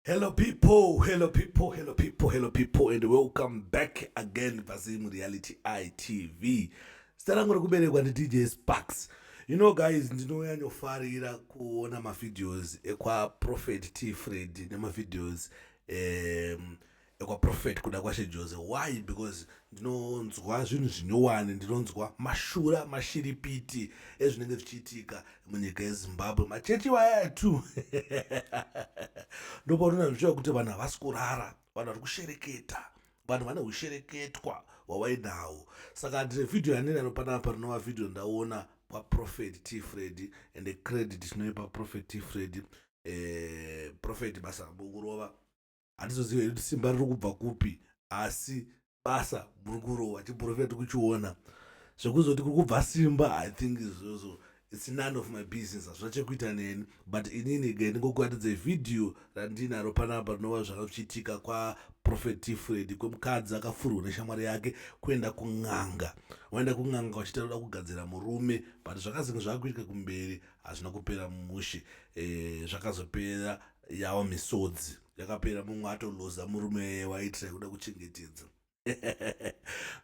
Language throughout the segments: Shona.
Hello people, hello people, hello people, hello people and welcome back again paZim Reality ITV. Zita rangu rekuberekwa ndi DJ Sparks. You know guys, ndinonyanyofarira kuona mavideos ekwa Prophet T Fred nemavideos um, ekwa prophet kuda kwashe Jose why because ndinonzwa zvinhu zvinyowani ndinonzwa mashura mashiripiti ezvinenge zvichiitika munyika yezimbabwe machechi waya tu ndopaunoona zvichiva kuti vanhu havasi kurara vanhu vari kushereketa vanhu vane ushereketwa hwawainahwo saka ndine vhidhiyo yanini anopanaa parinova vhidhiyo ndaona kwaprofet t fredi ende credit tinoipa profet t fredi eh, profet basa rambo kurova handizoziva kuti simba riri kubva kupi asi basa muri kurova chiprofita tiri kuchiona zvekuzoti kuri kubva simba i think izvozvo its none of my business hazvina chekuita neni but inini ge ndingokuratidza vhidhiyo randinaro panapa rinova zvanga zvichiitika kwaprofet tifred kwemukadzi akafurwa neshamwari yake kuenda kun'anga waenda kun'anga wachita roda kugadzira murume but zvakazenge zvava kuitika kumberi hazvina kupera mushe e, zvakazopera yawo misodzi yakapera mumwe atoloza murume waitira kuda kuchengetedza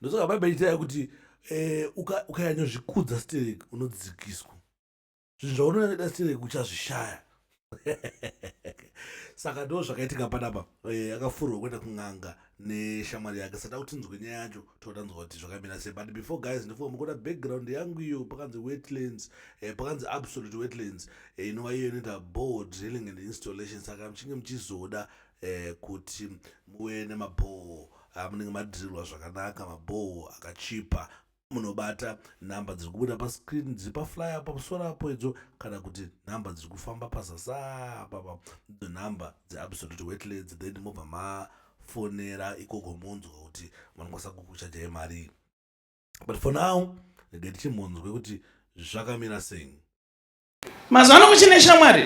ndosaka bhaibheri ichitaya kuti eh, ukanyanyozvikudza uka stereki unodzikiswa zvinhu zvaunonyanyada stereki uchazvishaya saka ndo zvakaitika panapa eh, akafurwa kuenda kun'anga neshamwari yake saka kutinzwe nyaya yacho totanzwa kuti zvakamira sei but before guys ndifunga mukuda background yangu iyo pakanzi wetlands eh, pakanzi absolute wetlands eh, inova iyo inoita ball drilling and installation saka muchinge muchizoda eh, kuti muve nemabhoo amunenge ah, madhirirwa zvakanaka mabhoo akachipa munobata nhamba dziri kubuda pascreen dziri pafly apa musoro apo idzo kana kuti nhamba dziri kufamba pazasa apapa idzo nhamba dzeabsolute wetlands then mobva mafonera ikoko monzwa kuti vanokwanisa kukuchajai marii but for now regai tichimonzwe kuti zvakamira sei Mazuva ano kuchine shamwari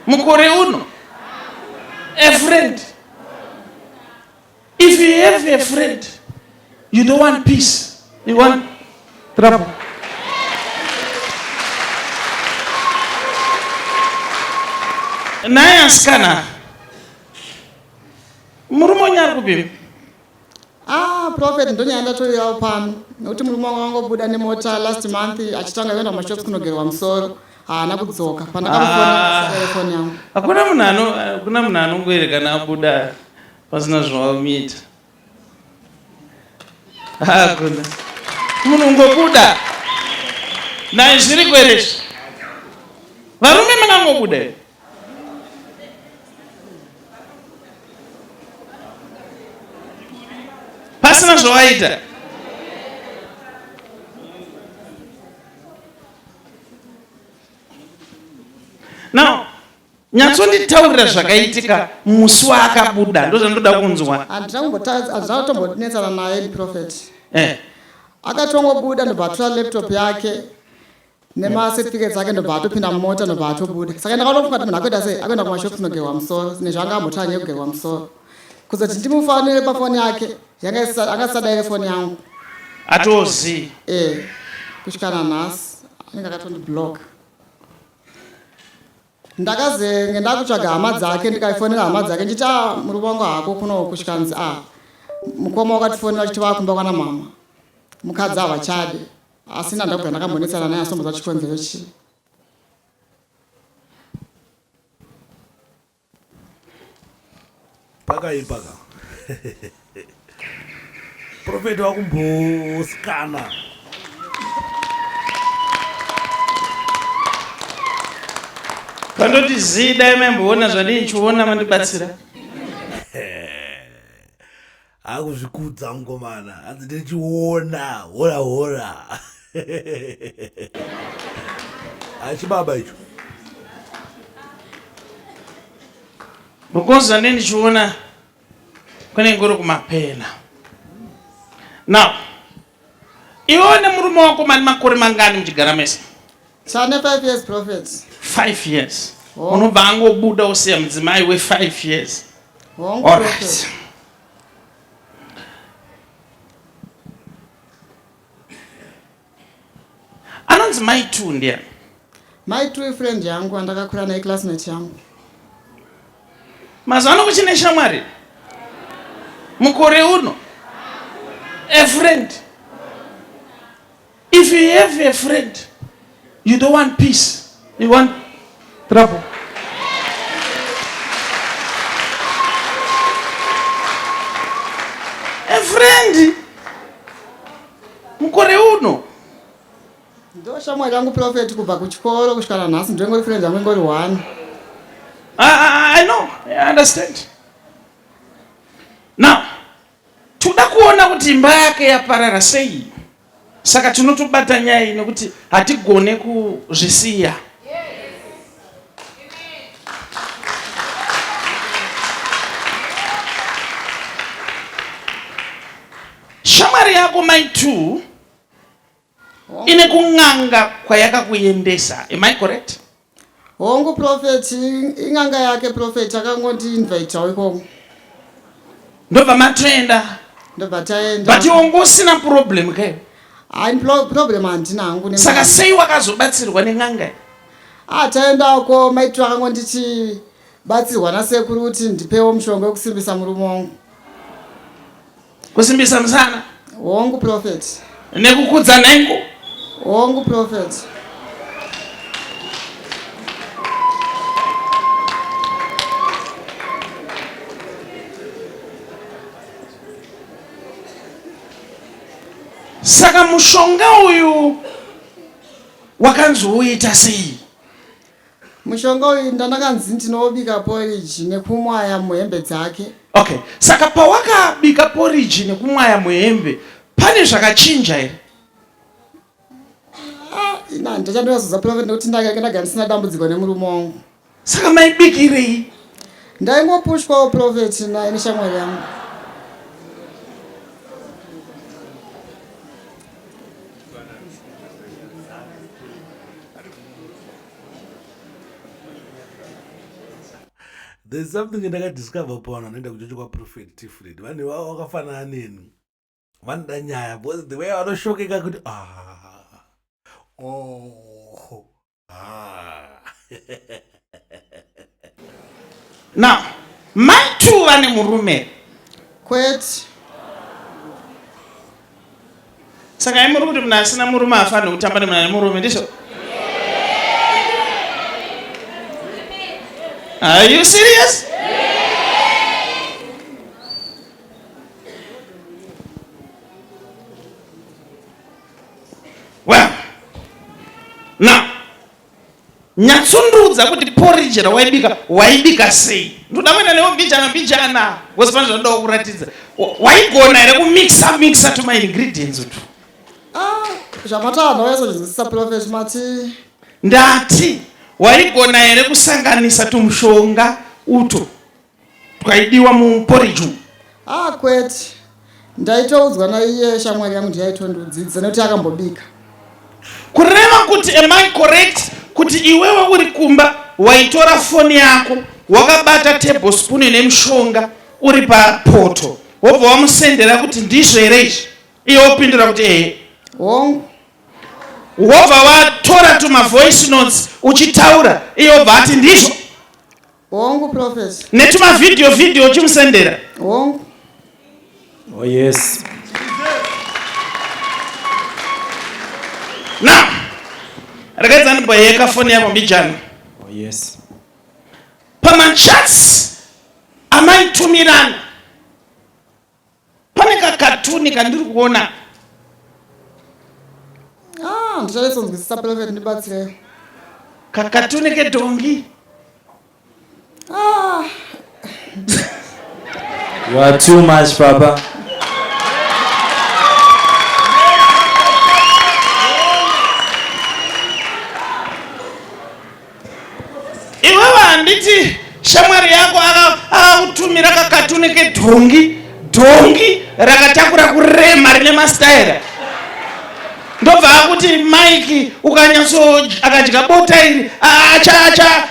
mukore uno a friend if you have a friend you don't want peace you want trouble naye asikana murume unyari kupima Ah, prophet ndonyaya ndatoriyawo pano nekuti murume wangu wangobuda nemota last month achitanga kuenda kumashops kunogerwa musoro haana kudzoka pandakamufonatelefoni ah, yangu hakuna munhu hakuna munhu anongoerekana abuda pasina zvawamiita hakuna ah, munhu ungobuda naizviriko here zvi varume makangobuda here pasina zvawaita now nyatsonditaurira zvakaitika musi waakabuda ndozvandoda kunzwa andizvatombonetsana naye profet eh. akatongobuda ndobva atora laptop yake nemacertificates ake ndobva atopinda mumota ndobva atobuda saka ndakaona kuti munhu akuita sei akuenda kumashops nogerwa musoro nezvanga ambotanga nekugerwa musoro kuzoti ndimufanire pafoni yake anga isadaire foni yangu atozi e eh, kusvikana nhasi anenge akatondiblock ndakazenge ndakutsvaga hama dzake ndikaifonera hama dzake nditi a muri wangu hako kuno kusvikanzi a ah, mukoma wakatifonera kuti vakumba kwana mama mukadzi havachade asina ndakubva ndakambonetsana naye asombodza chikonzero chii pakaipa ka profeti wakumbosikana vandoti zii dai maimboona zvandinchiona mandibatsira Akuzvikudza mukomana hanzi ndiri chiona hora hora achibaba icho because ane ndichiona kune ngoro kumapena now Iwewe nemurume wako mane makore mangani muchigara mese? Tane 5 years prophets. 5 years. Oh. Unobva angobuda usiya mudzimai we 5 years. Hongu. All right. Anonzi mai 2 ndiani? My true friend yangu andakakura naye classmate yangu. Mazuva ano kuchine shamwari mukore uno a friend if you have a friend you don't want peace you want trouble a friend mukore uno Ndo shamwari yangu prophet kubva kuchikoro kusvika nanhasi ndingori friend yangu ingori one. I, I, I know, I understand. Now, toda kuona kuti imba yake yaparara sei. Saka tinotobata nyaya iyi nekuti hatigone kuzvisiya. Shamwari yako mai two Ine kun'anga kwayakakuendesa, am I correct? Hongu prophet, in'anga yake prophet akangondi invitawo ikoko. Ndobva matoenda? Ndobva taenda. But iwe ngosina problem ke? Hayi problem handina hangu. Saka sei wakazobatsirwa nen'anga? Ah taenda uko maitwa akangonditi batsirwa nasekuru kuti ndipewo mushonga wekusimbisa murume wangu. Kusimbisa musana. Hongu prophet. Nekukudza nhengo. Hongu prophet. Saka mushonga uyu wakanzi uita sei? mushonga uyu ndandakanzi ndinobika poriji nekumwaya muhembe dzake okay saka pawakabika poriji nekumwaya muhembe pane zvakachinja here ah, ina ndachandoyazoza profet nekuti ndakanga ndagara ndisina dambudziko nemurume wangu saka maibikirei ndaingopushwawo profet naye neshamwari yangu there's something ndakadiscover pavanhu vanoenda kuchocho kwaprofet tifred vanhu vavo vakafanana neni vanoda nyaya because the way vanoshokeka kuti ah, oh. Ah. Now, mai two vane murume kwete saka imuri kuti munhu asina murume afanire kutamba nemunhu ane murume ndizvo are you serious well now nyatsondiudza kuti porridge rawaibika waibika sei ndoda kuenda newe mbijana mbijana wose pane zvanoda kuratidza waigona here kumixa mixa to my ingredients utu ah, zvamatava vaisozvinzwisisa profes mati ndati waigona here kusanganisa tumushonga uto twaidiwa muporiji umu ah kwete ndaitoudzwa naiye shamwari yangu ndiyaitondiudzidza nekuti akambobika kureva kuti am i correct kuti iwewe uri kumba waitora foni yako wakabata table spoon nemushonga uri papoto wobva wamusendera kuti ndizvo here izvi iye wopindura kuti ehe hongu wobva watora tumavoice notes uchitaura iye wobva ati ndizvo Hongu professor. Netuma video video uchimusendera. Hongu. Oh yes. Now, rakaedza ndiboyeka foni yavo mbijana. Oh yes. Pamachats amaitumirana Pane kakatuni kandiri kuona ah, ndichaisonzwisisa Prophet ndibatsirei. Kakatuni kedhongi. Ah. You are too much, Papa. Iwewe handiti shamwari yako akakutumira aka kakatuni kedhongi dhongi rakatakura kurema rine mastaira ndobva akuti mike ukanyatso akadya bota iri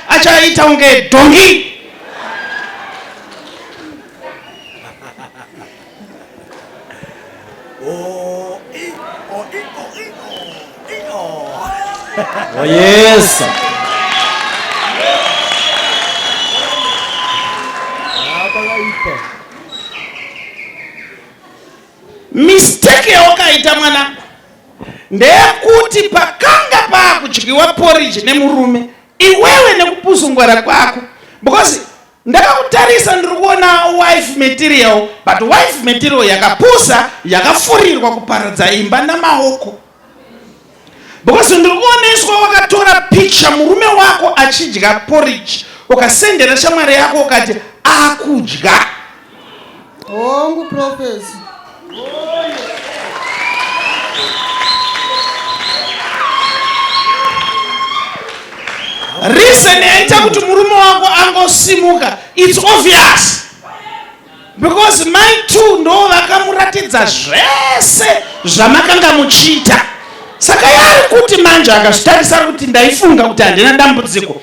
achaita kunge dhongi Oh, eh, oh, eh, oh, eh, oh, eh, oh. oh yes. Mistake yawakaita mwana ndeyekuti pakanga pakudyiwa porridge nemurume iwewe nekupuzungwara kwako because Ndakakutarisa ndiri kuona wife material but wife material yakapusa yakafurirwa kuparadza imba namaoko because ndiri kuoneswa wakatora picture murume wako achidya porridge ukasendera shamwari yako ukati akudya hongu profesi reason yaita kuti murume wako angosimuka its obvious because mai two ndo vakamuratidza zvese zvamakanga muchiita saka yaari kuti manje akazvitarisa kuti ndaifunga kuti handina dambudziko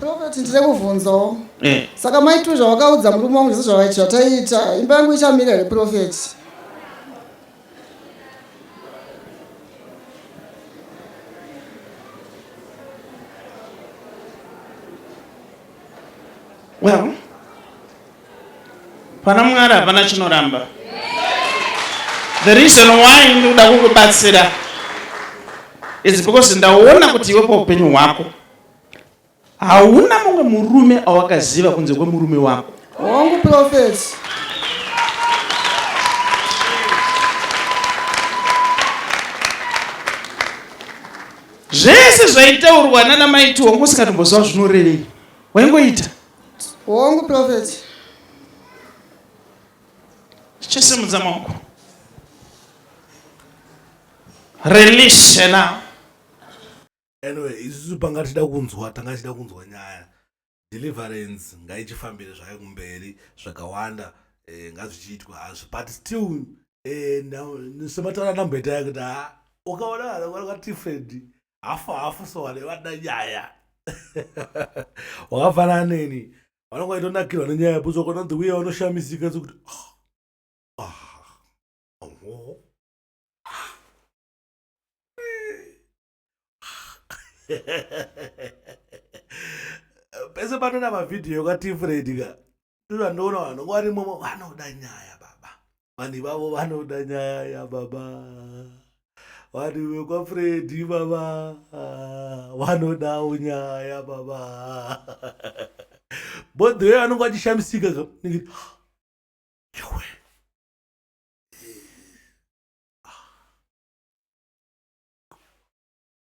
prophet ndiri kuvhunzawo eh. saka maitiro zvawakaudza murume wangu zvese zvataiita imba yangu ichamira here prophet well Pana Mwari hapana chinoramba. The reason why ndikuda kukubatsira is because ndaona kuti iwe paupenyu hwako hauna mumwe murume awakaziva kunze kwemurume wako. Hongu prophets. Zvese zvaitaurwa nana maiti wangu usingatomboziva zvinorevei. Waingoita. Hongu prophet. Chisimudza maoko. Release now. Anyway, isusu panga tida kunzwa, tanga tida kunzwa nyaya. Deliverance ngaichifambire zvayo kumberi zvakawanda eh, ngazvichiitwa hazvo but still eh, semataura namboita yakuti ah, ukaona kana kwakati friend hafu hafu so vane vada nyaya wakafanana neni vanonga vaitonakirwa nenyaya yaputswa kona the way vanoshamisika sekuti pese panona mavhidhiyo kwatifredika ndozvandoona vanhu nguva rimomo vanoda nyaya baba vanhu ivavo vanoda nyaya yababa vanhu vekwafredi baba vanodawo nyaya baba bodhoyo anonge achishamisika yowe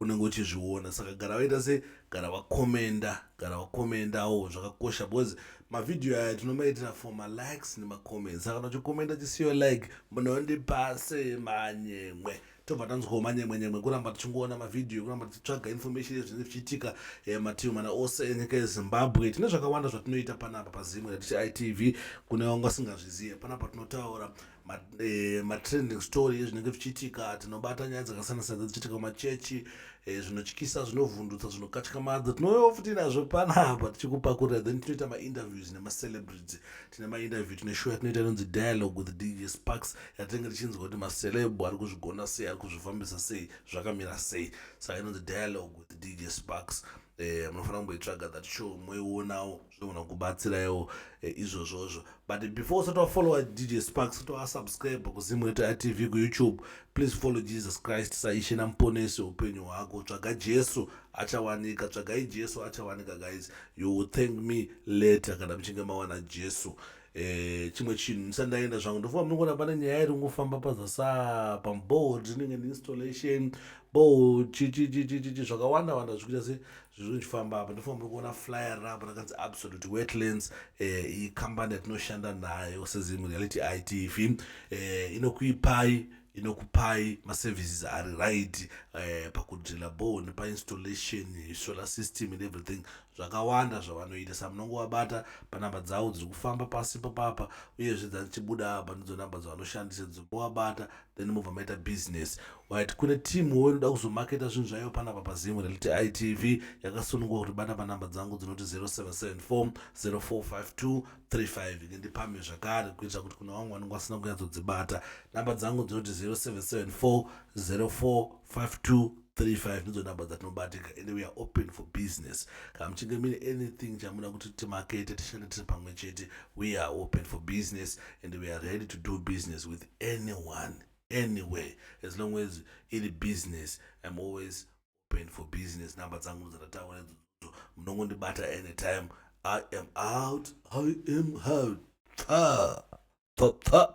unenge uchizviona saka gara vaita se gara vakomenda gara vakomendawo zvakakosha because mavhidhiyo aya tinomaitira for malikes nemacomments saka unochikomenda chisiyo like munondipase manyemwe tobva tanzwawo manyemwenyemwe kuramba tichingoona mavhidhiyo kuramba tichitsvaga information yezvinenge zvichiitika eh, mativi mana ose enyika yezimbabwe tine zvakawanda zvatinoita panapa pazimwe ratichi itv kune vanga singazvizive panapa tinotaura Eh, matrending story ezvinenge zvichiitika tinobata nyaya dzakasiyana siyana dzichiitika kumachechi eh, zvinotyisa zvinovhundutsa zvinokatyamadza tinouyawo futi nazvo panapa tichikupakurira then tinoita mainterviews nemacelebrity tine mainterview tine show yatinoita inonzi dialogue with dj sparks yatinenge tichinzwa kuti macelebo ari kuzvigona sei ari kuzvifambisa sei zvakamira sei saka inonzi dialogue with dj sparks eh, munofanira kumboitsvaga that show moionawo zvinogona kubatsiraiwo eh, izvozvozvo but before usati wafollowa dj sparks kuti wasubscribe kuzimweta tv kuyoutube please follow jesus christ saishe namuponesi upenyu hwako tsvaga jesu achawanika tsvagai jesu achawanika guys you will thank me later kana muchinge mawana jesu Eh, chimwe chinhu ndisandaenda zvangu ndofunga munongona pane nyaya iri kungofamba pazasa pamboard rinenge neinstallation bo chichichichichi zvakawanda wanda zvikuita se zviri kuchifamba apa ndofamba kuona flyer rapo rakanzi absolute wetlands eh, iyi kambani yatinoshanda nayo sezim reality itv eh, inokuipai inokupai maservices ari right eh, pakudrila bor nepainstallation solar system and everything zvakawanda zvavanoita sa munongowabata panamba dzavo dziri kufamba pasi papapa uyezve dzatichibuda apa ndidzo namba dzavanoshandisa dzinoabata then mobva maita business right kune team wo inoda kuzomaketa zvinhu zvaiyo panapa pazimu reliti itv yakasunungwa kuti bata panhamba dzangu dzinoti 0774 0452 35 inge ndipamhe zvakare kuitira kuti kuna vamwe vanenge vasina kunyatsodzibata nhamba dzangu dzinoti 0774 0452 35 ndidzo number dzatinobatika and we are open for business kana muchinge mine anything chamuda kuti timakete tishande tiri pamwe chete we are open for business and we are ready to do business with anyone anywhere as long as iri business im always open for business number dzangu ndidzatataura idzodzo munongondibata anytime i am out i am out pfa pfa pfa